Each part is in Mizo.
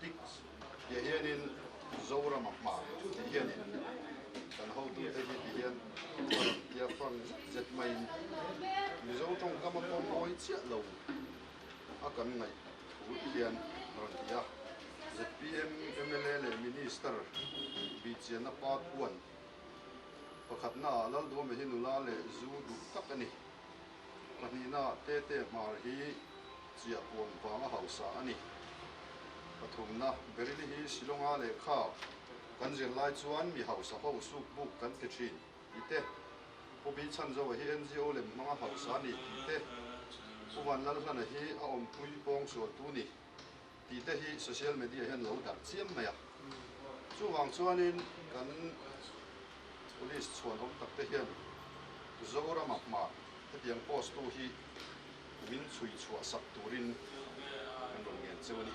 Pigs tia hianin Zoram a hma tih hian in kan hotute hi ti hian Zoram tia Frank zet maiin Mizo tawngkama pawm mawi chiah lo a kan ngaih thu tih hian a rawn ti a, zpm mla leh Minister Bichiana pa Thuan pakhatnaah Lalduame hi nula leh zu duh tak a ni, pahnihna Tete Hmar hi. Chiah puan vanga hausa a ni. Pathumna, Berily hi Shillonga lehkha kan zir lai chuan mi hausa ho suk buk kan ti thin tih te, Pu Bichanjoa hi NGO lem hmanga hausa a ni tih te, Pu Vanlalhlana hi a awmpui pawng sualtu ni. Tih te hi social media hian lo darh chiam mai a, chuvang chuanin kan police chhuanawm tak te hian Zorama hma hetiang post tu hi min chhui chhuah sak turin kan rawn ngen cheu a ni.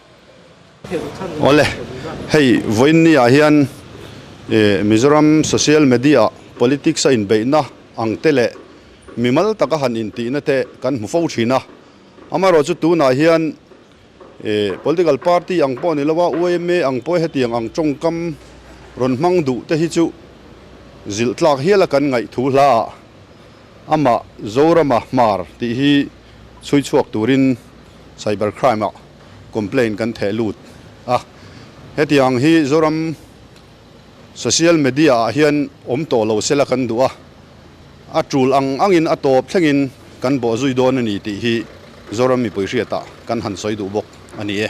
Awle, hei vawinia hian Mizoram social media ah politics a inbeihna ang te leh mimal taka han intihna te kan hmu fo thin a, amaherawh chu tunah hian political party ang pawh a ni lo a, UMA ang pawh hetiang ang tawngkam rawn hmang duh te hi chu zilhtlak hial a kan ngaihtu hla ah amah Zorama hmar tih hi chhui chhuak turin cyber crime ah complaint kan theh lut a. Hetiang hi Zoram social media ah hian awm tawh lo sela kan duh a, a tul ang angin a tawp thlengin kan bawh zui dawn a ni tih hi Zoram mipui hriatah kan han sawi duh bawk a ni e.